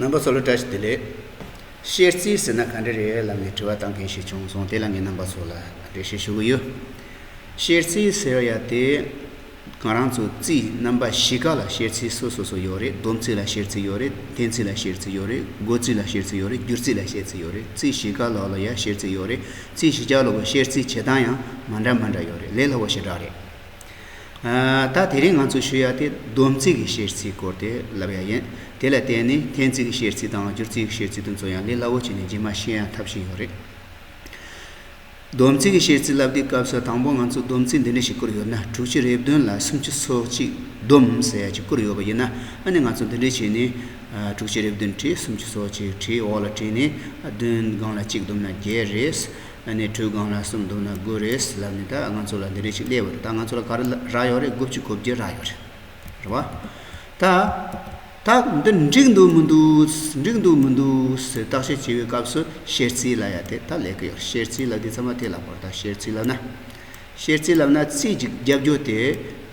རྣམ་པ་ཚོ་ལ་བཀྲ་ཤིས་བདེ་ལེགས། ཤེར་རྩིས་ཟེར་ན་ག་འདྲ་རེད་ལབ་ནས་དྲི་བ་བཏང་མཁན་ཞིག་བྱུང་སོང་དེ་ལ་ངས་རྣམ་པ་ཚོ་ལ་འགྲེལ་བཤད་ཞུ་གི་ཡོད། ཤེར་རྩིས་ཟེར་ཡ་དེ་གང་རང་ཚོའི་རྩིས་རྣམ་པ་བཞི་ཀ་ལ་ཤེར་རྩིས་སོ་སོ་སོ་ཡོད་རེད་སྡོམ་རྩིས་ལ་ཤེར་རྩིས་ཡོད་རེད་བསྟན་རྩིས་ལ་ཤེར་རྩིས་ཡོད་རེད་སྒོ་རྩིས་ལ་ཤེར་རྩིས་ཡོད་རེད་སྒྱུར་རྩིས་ལ་ཤེར་རྩིས་ཡོད་རེད་རྩིས་བཞི་ཀ་ལ་ལ་ཡང་ཤེར་རྩིས་ཡོད་རེད་རྩིས་བཞི་ཀ་ལ་ལ་ཤེར་རྩིས་བྱེད་སྟངས་ཡང་མ་འདྲ་མ་འདྲ་ཡོད་རེད་ལས་སླ་བོ་ཞེ་དྲག་རེད། ད་དེ་རིང་ང་ཚོས་ཞུ་ཡག་དེ་སྡོམ་རྩིས་ཀྱི་གཤེར་རྩིས་སྐོར་དེ་ལབ་ཡག་ཡིན། དེ་ལ་བརྟེན་ནས་འཐེན་རྩིས་ཀྱི་གཤེར་རྩིས་དང་སྒྱུར་རྩིས་ཀྱི་གཤེར་རྩིས་དུ་འཛོལ་ཡང་ལས་སླ་བོ་བྱས་ནས་རྗེས་མ་ཤེས་ཡང་འཐབ་བཞིན་ཡོད་རེད། སྡོམ་རྩིས་ཀྱི་གཤེར་རྩིས་བསླབ་དུས་སྐབས་སུ་དང་པོ་ང་ཚོས་སྡོམ་རྩིས་འདི་འདྲ་ཞིག་བསྐུར་ཡོད་ན་དྲུག་ཅུ་རེ་བདུན་ལ་སུམ་ཅུ་སོ་གཅིག་སྡོམ་ཟེར་ཡག་ཅིག་བསྐུར་ཡོད་པ་ཡིན་ན་ཨ་ནི་ང་ཚོས་འདི་འདྲ་བྱས་ནས། དྲུག་ཅུ་རེ་བདུན་ཁྲི་སུམ་ཅུ་སོ་གཅིག་ཁྲིའི་འོག་ལ་བྲིས་ནས་བདུན་སྒང་ལ་གཅིག་བསྡོམས་ན་བརྒྱད་རེད། ཨ་ནེ་དྲོད་སྒང་ལ་གསུམ་འདུག་ན་དགོས་རེད་ལབ་ནས་ད་ང་ཚོ་ལ་འདི་རེད་ཅིག་གླེ་བར་ད་ང་ཚོ་ལ་ག་རག་ཡོད་རེད་དགུ་བཅུ་གོ་བརྒྱད་རག་ཡོད་རེད་བ། ད་ད་འདི་འགྲིག་འདུག་མི་འདུག་འགྲིག་འདུག་མི་འདུག་ཟེར་བརྟག་དཔྱད་བྱེད་པའི་སྐབས་སུ་བཤེར་རྩིས་ལ་ཡ་དེ་ད་ལས་ཀི་ཡོད་རེད་བཤེར་རྩིས་ལབ་དུས་ཚང་མ་དེ་ལ་བོར་ད་བཤེར་རྩིས་ལབ་ན། བཤེར་རྩིས་ལབ་ན་རྩིས་ཀྱི་རྒྱབ་སྐྱོར་དེ་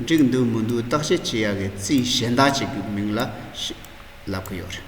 འགྲིག་འདུག་མི་འདུག་བརྟག་དཔྱད་བྱེད་ཡ་གི་རྩིས་གཞན་དག་ཅིག་གི་མིང་ལ་ལབ་ཀི་ཡོད་རེད།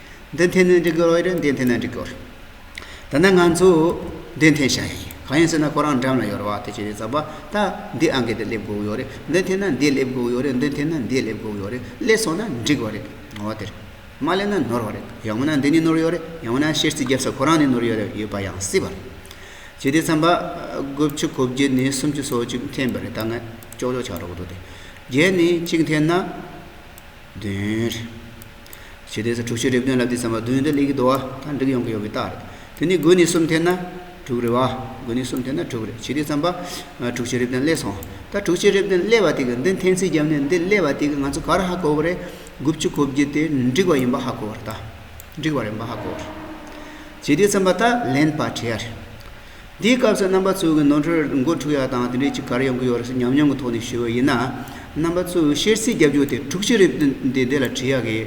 འདི་འཐེན་ནས་འགྲིག་གི་རེད་འདི་འཐེན་ན་འགྲིག་གི་རེད། ད་ནི་ང་ཚོས་འདི་འཐེན་བྱ་ཡིན། གང་ཡིན་ཟེར་ན་ཁོ་རང་འགྲམ་ལ་ཡོད་པ་དེ་ཆུ་རེད་ཟེར་བ་ད་འདི་ཨང་ཀི་དེ་སླེབས་དགོས་ཡོད་རེད་འདི་འཐེན་ན་འདི་སླེབས་དགོས་ཡོད་རེད་འདི་འཐེན་ན་འདི་སླེབས་དགོས་ཡོད་རེད་སླེབས་སོང་ན་འགྲིག་བ་རེད་ང་བ་དེར། མ་སླེབས་ན་ནོར་བ་རེད་ཡང་མིན་ན་འདི་ནས་ནོར་ཡོད་རེད་ཡང་མིན་ན་ཤེར་རྩིས་རྒྱབ་ས་ཁོ་རང་ནས་ནོར་ཡོད་ཡོད་པ་ཡང་སྲིད་པ་རེད། བྱས་ཏེ་ཚན་པ་དགུ་བཅུ་གོ་བརྒྱད་ནས་སུམ་ཅུ་སོ་གཅིག་འཐེན་པ་རེད་ད་ང་ཅོག་ཅོག་བྱ་རོགས་འདུག་དེ་བརྒྱད་ནས་གཅིག་འཐེན་ན་བདུན་རེད། ཞེས་ཏེ་ས་དྲུག་ཤེས་རབ་དོན་ལ་བསྡུས་ཙམ་པ་བདུན་འདི་ལས་ཀྱི་བསྡུ་བ་དང་འགྲིག་ཡོང་གི་ཡོད་པའི་རྟགས་རེད། དེ་ནི་དགུ་ནི་གསུམ་འཐེན་ན་དྲུག་རེད་བ། དགུ་ནི་གསུམ་འཐེན་ན་དྲུག་རེད་ཞེས་ཏེ་ཙམ་པ། དྲུག་ཤེས་རབ་དོན་སླེ་སོང། ད་དྲུག་ཤེས་རབ་དོན་སླེ་བ་དེ་གི་འདི་འཐེན་ཚིག་བརྒྱབ་ནས་འདི་སླེ་བ་དེ་གི་ང་ཚོ་ག་རེ་ཧ་གོ་བ་རེད། དགུ་བཅུ་གོ་བརྒྱད་དེ་འགྲིག་བ་ཡིན་པ་ཧ་གོ་བ་རེད་ད། འགྲིག་བ་རེད་པ་ཧ་གོ་བ་རེད། ཞེས་ཏེ་ཙམ་པ་ད་ལན་པ་བྲིས་ཡ་རེད། འདིའི་སྐབས་སུ་རྣམ་པ་གཙོ་བོའི་ནོར་འཁྲུལ་མགོ་འཁྲུགས་ཡག་དང་དེ་འདྲའི་ཅི་གར་ཡོང་གི་ཡོད་རེད་ཟེར་ཉམས་མྱོང་གི་ཐོག་ནས་ཞུ་འོས་ཡིན་ན། རྣམ་པ་གཙོ་བོའི་བཤེར་རྩིས་རྒྱབ་སྐྱོར་དེ་དྲུག་ཅུ་རེབ་དོན་འདི་འདི་ལ་བྲིས་ཡག་གི།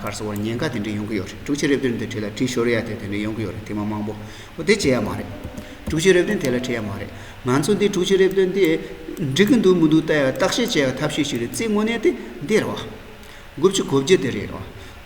གར་སོང་བར་ཉེན་ཁ་དེ་འདྲའི་ཡོང་གི་ཡོད་རེད་དྲུག་ཅུ་རེབ་དོན་འདི་བྲིས་ལ་བྲིས་ཤོར་ཡག་དེ་དེ་འདྲའི་ཡོང་གི་ཡོད་རེད་དེ་མ་མང་པོ་བོ་དེ་བྱེད་ཡག་མ་རེད། དྲུག་ཅུ་རེབ་དོན་དེ་ལ་བྲིས་ཡག་མ་རེད། ང་ཚོ་འདི་དྲུག་ཅུ་རེབ་དོན་འདི་འགྲིག་གི་འདུག་མི་འདུག་བལྟ་ཡག་བརྟག་དཔྱད་བྱེད་ཡག་ཐབས་ཤེས་ཤིག་རེད་རྩིས་དངོས་གནས་དེ་འདི་རེད་བ། དགུ་བཅུ་གོ་བརྒྱད་དེ་རེད་བ།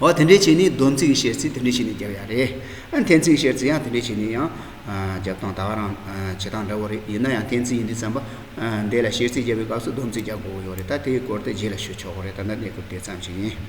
འོ་དེ་འདྲའི་བྱས་ནས་སྡོམ་ཚིག་བཤད་ཚེ་དེ་འདྲའི་བྱས་ནས་བརྒྱབ་ཡ་རེད། ཨ་འཐེན་ཚིག་བཤད་ཚེ་ཡང་དེ་འདྲའི་བྱས་ནས་ཡང་བརྒྱབ་སྟངས་ད་ག་རང་བྱེད་སྟངས་འདྲ་བོ་རེད་ཡིན་ན་ཡང་འཐེན་ཚིག་ཡིན་དུས་བརྩམས་པ་འདས་ལ་བཤད་ཚིག་བརྒྱབ་པའི་སྐབས་སུ་སྡོམ་ཚིག་རྒྱག་དགོས་ཀྱི་ཡོད་རེད་ད་དེའི་སྐོར་དེ་རྗེས་ལ་ཤོད་ཆོག་གོ་རེད་ད་ལྟ་གནས་སྐབས་དེ་ཙམ་ཞིག་ཡིན།